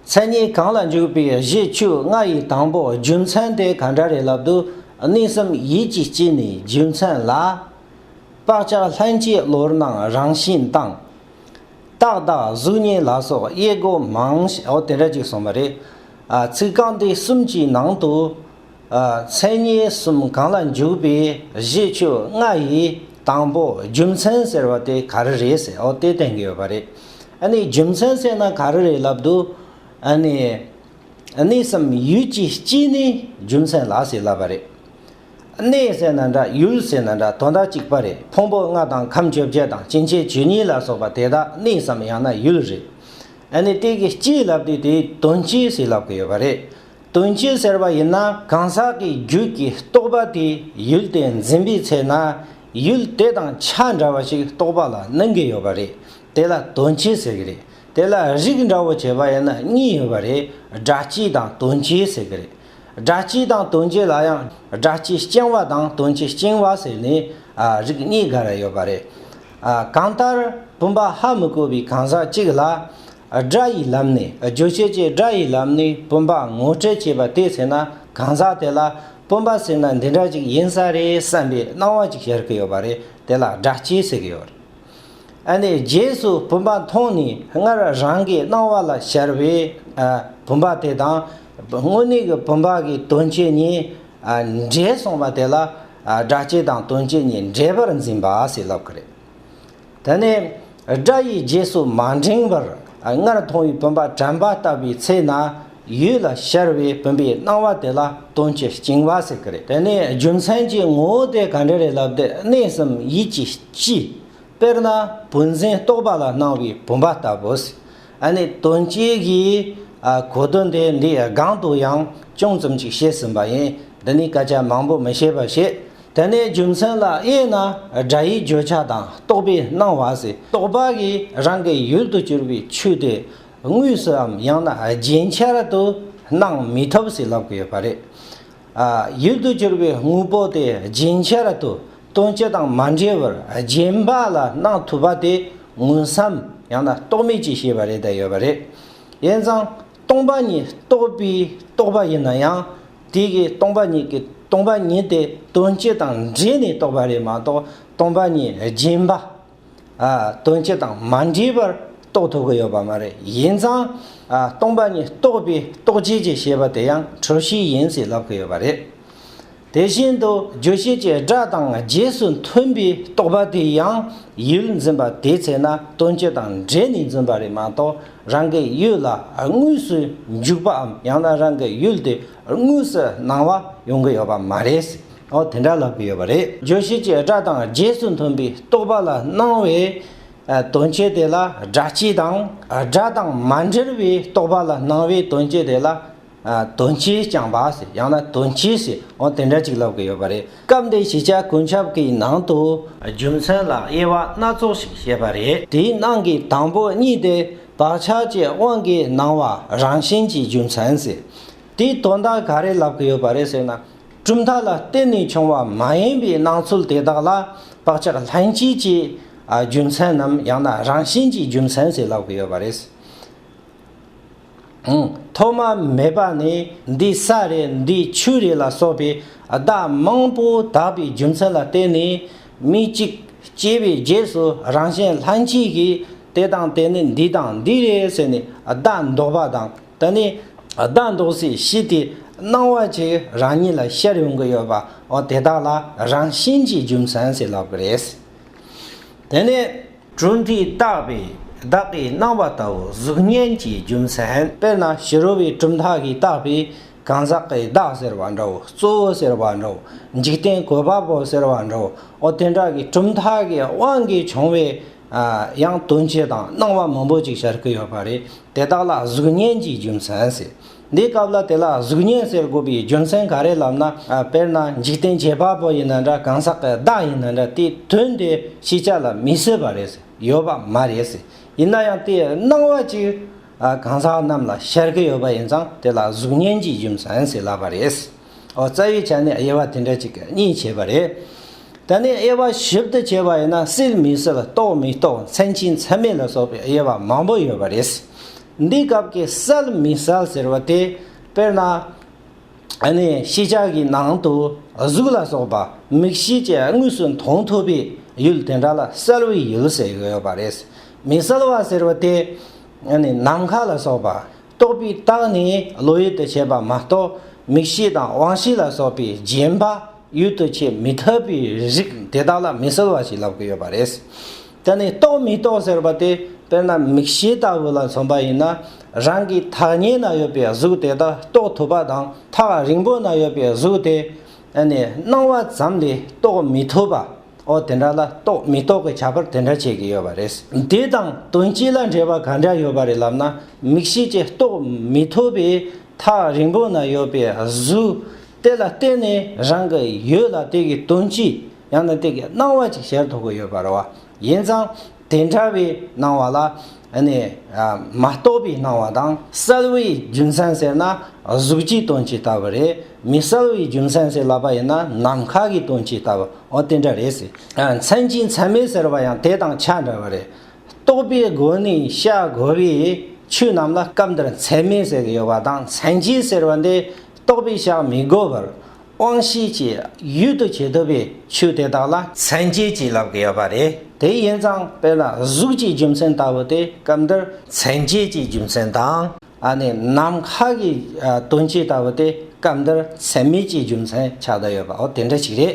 མཚན་ཉིད་གང་ལ་འཇུག་པའི་གཞི་བཅུ་ལྔ་ཡི་དང་པོ་རྒྱུ་མཚན་དེ་ག་འདྲ་རེད་ལབ་འདུག་གནས་གསུམ་ཡིད་ཀྱི་དཀྱིལ་ནས་རྒྱུ་མཚན་ལ། བག་ཆགས་ལྷན་སྐྱེས་བློར་སྣང་རང་བཞིན་དང། རྟག་བདག་གཟུགས་བརྙན་ལ་སོགས་དབྱེ་སྒོ་མང། འོ་དེ་འདྲ་ཅིག་སོང་བ་རེད། ཚིག་རྐང་འདི་གསུམ་གྱི་ནང་དུ། མཚན་ཉིད་གསུམ་གང་ལ་འཇུག་པའི་གཞི་བཅོ་ལྔ་ཡི་དང་པོ་རྒྱུ་མཚན་ཟེར་བ་དེ་ག་རེ་རེད་ཟེར་ཨོ་དེ་བསྟན་གྱི་ཡོད་པ་རེད། ཨ་ནི་རྒྱུ་མཚན་བསྲེས་ན་ག་རེ་རེད་ལབ་འདུག་ཨ་ནི། གནས་སམ་ཡུལ་གྱི་སྤྱི་ནི་རྒྱུ་མཚན་ལ་ཟེར་ལབ་པ་རེད། གནས་ཟེར་ན་འདྲ་ཡུལ་ཟེར་ན་འདྲ་དོན་དག་གཅིག་པ་རེད་ཕུང་པོ་ལྔ་དང་ཁམས་བཅོ་བརྒྱད་དང་སྐྱེ་མཆེད་བཅུ་གཉིས་ལ་སོགས་པ་དེ་དག་གནས་སམ་ཡང་ན་ཡུལ་རེད། ཨ་ནི་དེ་གི་སྤྱི་ལབ་དུས་དེའི་དོན་སྤྱི་ཟེར་ལབ་གི་ཡོད་པ་རེད། དོན་སྤྱི་ཟེར་བ་ཡིན་ན་གང་ཟག་གི་རྒྱུད་ཀྱི་རྟོག་པ་དེ་ཡུལ་དེ་འཛིན་པའི་ཚེ་ན་ཡུལ་དེ་དང་ཆ་འདྲ་བ་ཞིག་རྟོག་པ་ལ་གནོན་གྱི་ཡོད་པ་རེད་དེ་ལ་དོན་སྤྱི་ཟེར་གྱི་རེད་དེ་ལ་རིགས་འདྲ་བོ་བྱེད་པ་ཡིན་ན་གཉིས་ཡོད་པ་རེད་སྒྲ་སྤྱི་དང་དོན་སྤྱི་ཟེར་གྱི་རེད། སྒྲ་སྤྱི་དང་དོན་སྤྱི་ལ་ཡང་སྒྲ་སྤྱི་རྐྱང་བ་དང་དོན་སྤྱི་རྐྱིང་བ་ཟེར་ནས་རིགས་གཉིས་འགའ་རེ་ཡོད་པ་རེད། གང་ལྟར་བུམ་པ་ཧ་མི་གོ་བའི་གང་ཟག་གཅིག་ལ། སྒྲ་ཡི་ལམ་ནས་རྗོད་བྱེད་ཀྱི་སྒྲ་ཡི་ལམ་ནས་བུམ་པ་ངོ་སྤྲོད་བྱེད་པ་དེ་ཟེར་ན་གང་ཟག་དེ་ལ་བུམ་པ་ཟེར་ན་འདི་འདྲ་ཅིག་ཡིན་ས་རེད་བསམ་པའི་སྣང་བ་ཅིག་ཤར་གྱི་ཡོད་པ་རེད་དེ་ལ་སྒྲ་སྐྱེས་ཟེར་གྱི་ཡོད་རེད། ཨ་ནི་རྗེས་སུ་བུམ་པ་མཐོང་ནས་སྔར་རང་གི་སྣང་བ་ལ་ཤར་བའི་བུམ་པ་དེ་དང་དངོས་གནས་ཀྱི་བུམ་པ་གི་དོན་སྤྱི་གཉིས་འདྲེས་སོང་བ་དེ་ལ་སྒྲ་སྐྱེས་དང་དོན་སྤྱི་གཉིས་འདྲེས་པར་འཛིན་པ་ཞེས་ལབ་ཀྱི་རེད། དེ་ནས་སྒྲ་ཡི་རྗེས་སུ་མ་འབྲེང་བར་སྔར་མཐོང་བའི་བུམ་པ་དྲན་པ་ལྟ་བུའི་ཚེ་ན་ཡུལ་ལ་ཤར་བའི་བུམ་པའི་སྣང་བ་དེ་ལ་དོན་གྱི་བཅིང་བ་ཟེར་གྱི་རེད། དེ་ནས་རྒྱུ་མཚན་གྱི་ངོ་བོ་དེ་ག་འདྲ་རེད་ལབ་དེ་གནས་གསུམ་ཡིད་ཀྱི་སྤྱི། དཔེར་ན་བུན་འཛིན་རྟོག་པ་ལ་སྣང་བའི་བུམ་པ་ལྟ་བུ། ཨ་ནི་དོན་གཅོད་ཀྱིས་གོ་དོན་དེ་འདིའི་སྒང་དུ་ཡང་ཅུང་ཙམ་ཅིག་བཤད་ཟིན་པ་ཡིན། འདི་ནི་སྐད་ཆ་མང་པོ་མི་བཤད་པར་བཤད། དེ་ནས་རྒྱུ་མཚན་ལ་དབྱེ་ན་སྒྲ་ཡི་བརྗོད་བྱ་དང་རྟོག་པའི་སྣང་བ་སི་ཏོག་པ་གིས་རང་གི་ཡུལ་དུ་གྱུར་པའི་ཆོས་དེ་དངོས་སུའམ་ཡང་ན་རྒྱན་ཆར་དུ་སྣང་མི་ཐུབ་ཟེར་ལབ་ཀྱི་ཡོད་པ་རེད། ཡུལ་དུ་གྱུར་པའི་དངོས་པོ་དེ་རྒྱུན་ཆད་དུ་སྟོན་བྱེད་དང་མ་འབྲེལ་བར་རྗེན་པ་ལ་སྣང་ཐུབ་པ་དེ་མངོན་སམ་ཡང་ན་རྟོག་མེད་ཀྱི་ཤེས་པ་རེད་དེ་ཡོད་པ་རེད། ཡིན་ཙང་སྟོང་པ་ཉིད་རྟོགས་པའི་རྟོགས་པ་ཡིན་ན་ཡང་དེ་གའི་སྟོང་པ་ཉིད་ཀྱི་སྟོང་པ་ཉིད་དེ་སྟོན་བྱེད་དང་འབྲེལ་ནས་རྟོགས་པ་རེད་མ་གཏོགས་སྟོང་པ་ཉིད་རྒྱུན་པ་དོན་སྤྱི་དང་མ་འདྲེས་པར་རྟོགས་ཐུབ་ཀྱི་ཡོད་པ་མ་རེད། ཡིན་ཙང། སྟོང་པ་ཉིད་རྟོགས་པའི་རྟོགས་བྱེད་ཀྱི་ཤེས་པ་དེ་ཡང་གྲུབ་བྱེད་ཡིན་ཟེར་ལབ་ཀྱི་ཡོད་པ་རེད། དེ་བཞིན་དུ་རྒྱུ་བྱེད་ཀྱི་སྒྲ་དང་རྗེས་སུ་མཐུན་པའི་རྟོགས་པ་དེ་ཡང་ཡུལ་འཛིན་པ་དེའི་ཚེ་ན་དོན་སྤྱི་དང་འདྲེས་ནས་འཛིན་པ་རེད་མ་གཏོགས་རང་གི་ཡུལ་ལ་དངོས་སུ་འཇུག་པའམ་ཡང་ན་རང་གི་ཡུལ་དེ་དངོས་སུ་སྣང་བ་ཡོང་གི་ཡོད་པ་མ་རེད། འོ་དེ་འདྲ་ལབ་ཀྱི་ཡོད་པ་རེད། བརྗོད་བྱེད་ཀྱི་སྒྲ་དང་རྗེས་སུ་མཐུན་པའི་རྟོག་པ་ལ་སྣང་བའི་དོན་སྤྱི་དེ་ལ་སྒྲ་སྤྱི་དང། སྒྲ་དང་མ་འབྲེལ་བའི་རྟོག་པ་ལ་སྣང་བའི་དོན་སྤྱི་དེ་ལ། དོན་སྤྱིའི་རྐྱང་པ་ཟེར་ཡང་ན་དོན་སྤྱི་ཟེར་འོ་དེ་འདྲ་ཅིག་ལབ་ཀྱི་ཡོད་པ་རེད། སྐབས་འདིའི་བྱེད་བྱ་ཀུན་ཁྱབ་ཀྱི་ནང་དུ། རྒྱུ་མཚན་ལ་དབྱེ་བ་སྣ་ཚོགས་ཤིག་བྱས་པ་རེད། དེའི་ནང་གི་དང་པོ་གཉིས་དེ། བག་ཆགས་ཀྱི་དབང་གིས་སྣང་བ་རང་བཞིན་གྱི་རྒྱུ་མཚན་ཟེར། དེའི་དོན་དག་ག་རེ་ལབ་གི་ཡོད་པ་རེད་ཟེར་ན། གྲུབ་མཐའ་ལ་བརྟེན་ནས་བྱུང་བ་མ་ཡིན་པའི་སྣང་ཚུལ་དེ་དག་ལ་བག་ཆགས་ལྷན་སྐྱེས་ཀྱི་རྒྱུ་མཚན་ནམ་ཡང་ན་རང་བཞིན་གྱི་རྒྱུ་མཚན་ཞེས་ལབ་གི་ཡོད་པ་རེད། ཐོག་མ་མེད་པ་ནས་འདི་ས་རེད་འདི་ཆུ་རེད་ལ་སོགས་པའི་བརྡ་མང་པོ་དག་པའི་རྒྱུ་མཚན་ལ་བརྟེན་ནས། མི་གཅིག་སྐྱེས་པའི་རྗེས་སུ་རང་བཞིན་ལྷན་སྐྱེས་ཀྱི། དེ་དང་དེ་ནི་འདི་དང་འདི་རེད་ཟེར་ནས་བདག་འདོགས་པ་དང་ད་ནི་བདག་འདོགས་སའི་གཞི་དེ་སྣང་བ་ཆེ་རང་ཉིད་ལ་ཤར་ཡོང་གི་ཡོད་པ་འོ་དེ་དག་ལ་རང་བཞིན་གྱིས་རྒྱུ་མཚན་ཟེར་ལབ་གི་རེད། དེ་ནི། གྲུབ་མཐའི་རྟགས་པས་བདག་གི་སྣང་བ་ལྟ་བུ་གཟུགས་བརྙན་གྱི་རྒྱུ་མཚན། དཔེར་ན་ཕྱི་རོལ་བའི་གྲུབ་མཐའ་གྱི་རྟགས་པས་གང་ཟག་གི་བདག་ཟེར་བ་འདྲ་བོ་གཙོ་བོ་ཟེར་བ་འདྲ་བོ་འཇིག་རྟེན་གོ་བབ་བོ་ཟེར་བ་འདྲ་བོ་འོ་དེ་འདྲ་གི་གྲུབ་མཐའ་གི་དབང་གིས་བྱུང་བའི་ཡང་དོན་ཆེ་དང་སྣང་བ་མང་པོ་ཅིག་ཤར་གྱི་ཡོད་པ་རེད། དེ་དག་ལ་གཟུགས་བརྙན་གྱི་རྒྱུ་མཚན་ཟེར། འདིའི་སྐབས་ལ་དེ་ལ་གཟུགས་བརྙན་ཟེར་དགོས་པའི་རྒྱུ་མཚན་ག་རེ་ལབ་ན། དཔེར་ན་འཇིག་རྟེན་བྱེད་པ་པོ་ཡིན་ན་འདྲ་གང་ཟག་གི་བདག་ཡིན་ན་འདྲ་དེའི་དོན་དེ་ཤེས་བྱ་ལ་མི་བཟོད་པ་རེད། ཡོད་པ་མ་རེད། ཡིན་ན་ཡང་དེའི་སྣང་བ་ཅིག་གང་ཟག་རྣམས་ལ་ཤར་གྱི་ཡོད་པ་ཡིན་ཙང་དེ་ལ་གཟུགས་བརྙན་གྱི་རྒྱུ་མཚན་ཟེར་སླ་བ་རེད། ཨོ་རྩ་བའི་ཆ་ནས་དབྱེ་བ་དེ་འདྲ་ཅིག་གཉིས་བྱས་པ་རེད། ད་ནི་དབྱེ་བ་ཞིབ་ཏུ་བྱས་པ་ཡིན་ན་སྲིད་མི་སྲིད་རྟོགས་མི་རྟོགས་མཚན་གཅིག་མཚན་མེད་ལ་སོགས་པའི་དབྱེ་བ་མང་པོ་ཡོད་པ་རེད། འདིའི་སྐབས་ཀྱི་གསལ་མི་གསལ་ཟེར་བ་དེ་དཔེར་ན། ནི་ཤེས་བྱ་གི་ནང་དུ་གཟུགས་ལ་སོགས་པ་མིག་ཤེས་ཀྱིས་དངོས་སུ་མཐོང་ཐུབ་པའི་ཡུལ་དེ་འདྲ་ལ་གསལ་བའི་ཡུལ་ཟེར་ཡོད་པ་རེད། མི་གསལ་བ་ཟེར་བ་དེ། ནི་ནམ་མཁའ་ལ་སོགས་པ། རྟོག་པའི་རྟགས་ནི་བློ་ཡུལ་དུ་བྱེད་པ་མ་གཏོགས་མིག་ཤེས་དང་དབང་ཤེས་ལ་སོགས་པའི་རྗེན་པ་ཡུལ་དུ་བྱེད་མི་ཐུབ་པའི་རིགས་དེ་དག་ལ་མི་གསལ་བ་ཞིག་ལབ་ཀྱི་ཡོད་པ་རེད། དེ་ནི་རྟོག་མི་རྟོག་ཟེར་བ་དེ་དཔེར་ན་མིག་ཤེས་ལྟ་བུ་ལ་མཚོན་པ་ཡིན་ན་རང་གི་ཐག་ཉེ་ན་ཡོད་པའི་གཟུགས་དེ་དག་རྟོགས་ཐུབ་པ་དང་ཐག་རིང་པོ་ན་ཡོད་པའི་གཟུགས་དེ་ནི་སྣང་བ་ཙམ་ལས་རྟོགས་མི་ཐུབ་པ། འོ་དེ་འདྲ་ལ་རྟོགས་མི་རྟོགས་ཀྱི་ཁྱད་པར་དེ་འདྲ་བྱེད་ཀྱི་ཡོད་པ་རེད། དེ་དང་དོན་སྤྱི་ལ་འབྲེལ་བ་ག་འདྲ་ཡོད་པ་རེད་ལབ་ན་མིག་ཤེས་ཀྱིས་རྟོགས་མི་ཐུབ་པའི་ཐག་རིང་པོ་ན་ཡོད་པའི་གཟུགས་དེ་ལ་བརྟེན་ནས་རང་གི་ཡུལ་ལ་དེ་གའི་དོན་སྤྱི་ཡང་ན་དེ་གའི་སྣང་བ་ཅིག་གཞལ་ཐུབ་ཀྱི་ཡོད་པར་བ་ཡིན་ཙང། དེ་འདྲ་བའི་སྣང་བ་ལ་ནི་མ་རྟོགས་པའི་སྣང་བ་དང་གསལ་བའི་རྒྱུ་མཚན་ཟེར་ན་གཟུགས་ཀྱི་དོན་གྱི་ལྟ་བ་རེད། མི་གསལ་བའི་རྒྱུ་མཚན་ཟེར་ལབ་པ་ཡིན་ན་ནམ་མཁའ་གི་དོན་གྱི་ལྟ་བའོ་དེ་འདྲ་རེད། མཚན་གྱི་མཚན་མེད་ཟེར་བ་ཡང་དེ་དང་ཆ་འདྲ་བ་རེད། རྟོགས་པའི་སྒོ་ནས་བཤད་དགོས་པའི་ཆོས་རྣམས་ལ་སྐབས་འདིར་མཚན་མེད་ཟེར་གྱི་ཡོད་པ་དང་མཚན་གྱི་ཟེར་བ་འདི་རྟོགས་པས་བཤགས་མི་དགོས་པར་དབང་ཤེས་ཀྱི་ཡུལ་དུ་བྱེད་དོ་པའི་ཆོས་དེ་དག་ལ། མཚན་བཅས་ཀྱི་ལབ་དགོས་པ་རེད། དེ་ཡིན་ཙང་དཔེར་ན་གཟུགས་ཀྱི་རྒྱུ་མཚན་ལྟ་བུ་སྟེ་སྐབས་འདིར། མཚན་བཅས་ཀྱི་རྒྱུ་མཚན་དང། ནི་ནམ་མཁའ་གི་དོན་སྤྱི་ལྟ་བུ་སྟེ་སྐབས་འདིར་མཚན་མེད་ཀྱི་རྒྱུ་མཚན་ཆགས་བསྡད་ཡོད་པའོ་དེ་འདྲ་ཞིག་རེད།